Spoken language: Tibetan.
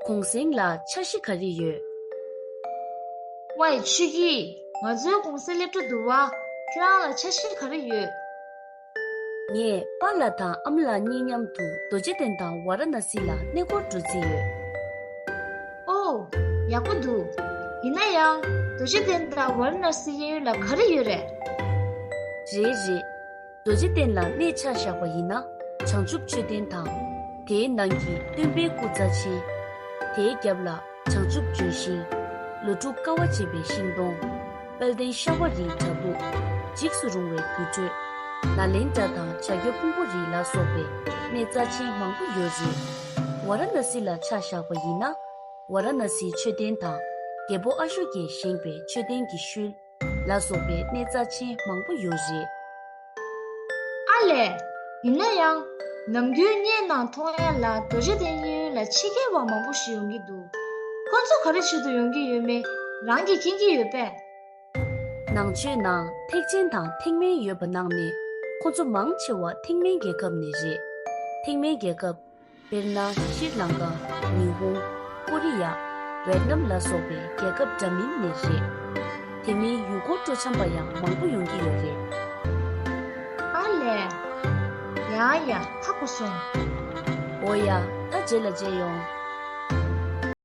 གུང་གསེང་ལ་འཆར་གཞི་ག་རེ་ཡོད། བའི་ཆོས་ཀྱིས་ང་ཚོའི་གུང་གསེང་སླེབས་གྲབས་འདུག་བ། ཁྱོད་རང་ལ་འཆར་གཞི་ག་རེ་ཡོད། ངས་པ་ལ་དང་ཨ་མ་ལགས་གཉིས་མཉམ་དུ་རྡོ་རྗེ་གདན་དང་ཝཱ་ར་ན་སི་ལ་གནས་སྐོར་འགྲོ་རྩིས་ཡོད། ཨོ། ཡག་པོ་འདུག་ཡིན་ན་ཡང། རྡོ་རྗེ་གདན་དང་ཝཱ་ར་ན་སི་གཡས་གཡོན་ལ་ག་རེ་ཡོད་རེད། རེད་རེད། རྡོ་རྗེ་གདན་ལ་གནས་ཕྱག་བཞག་པ་ཡིན་ན་བྱང་ཆུབ་མཆོད་རྟེན་དང། དེའི་ནང་གི་སྟོན་པའི་སྐུ་རྩ་ཆེན། དེའི་རྒྱབ་ལ་བྱང་ཆུབ་ལྗོན་ཤིང། ལོ་དྲུག་དཀའ་བ་སྤྱད་པའི་ཤིང་སྡོང། དཔལ་ལྡན་ཤ་བ་རིའི་བྲག་ཕུག། འཇིགས་སུ་རུང་བའི་དུར་ཁྲོད། ནཱ་ལེནྡྲ་དང་བྱ་ཁྱོ་ཕུང་པོ་རི་ལ་སོགས་པའི་གནས་རྩ་ཆེན་མང་པོ་ཡོད་རེད། ཝཱ་ར་ནཱ་སི་ལ་ཕྱག་བཞག་པ་ཡིན་ན། ཝཱ་ར་ནཱ་སིའི་མཆོད་རྟེན་དང། རྒྱལ་པོ་ཨ་ཤོ་ཀས་བཞེངས་པའི་མཆོད་རྟེན་གྱི་ཤུལ། ལ་སོགས་པའི་གནས་རྩ་ཆེན་མང་པོ་ཡོད་རེད། ཨ་ལས། ཡིན་ན་ཡང། ནམ་རྒྱུན་བརྙན་ནང་མཐོང་ཡ་ལ་རྡོ་རྗེ་གདན་གཡས་གཡོན་ལ་ཕྱི་རྒྱལ་བ་མང་པོ་ཞིག་ཡོང་གི་འདུག་ཁོ་ཚོ་ག་རེ་བྱེད་དུ་ཡོང་གི་ཡོད་མེད་རང་གིས་མཁྱེན་གྱི་ཡོད་པས། ནང་ཆོས་ནང་ཐེག་ཆེན་དང་ཐེག་དམན་ཡོད་པ་ནང་ནས་ཁོ་ཚོ་མང་ཆེ་བ་ཐེག་དམན་རྒྱལ་ཁབ་ནས་རེད། ཐེག་དམན་རྒྱལ་ཁབ། དཔེར་ན་ཤྲཱི་ལང་ཀ། ཉི་ཧོང། ཀོ་རི་ཡ། ཝེད་ནམ་ལ་སོགས་པའི་རྒྱལ་ཁབ་འདྲ་མིན་ནས་རེད། དེ་མིན་ཡུལ་སྐོར་སྤྲོ་འཆམ་པ་ཡང་མང་པོ་ཡོང་གི་ཡོད་རེད། ཨ་ལས། ཡ་ཡ་ཁག་པོ་སོང། འོ་ཡ་ད་རྗེས་ལ་མཇལ་ཡོང།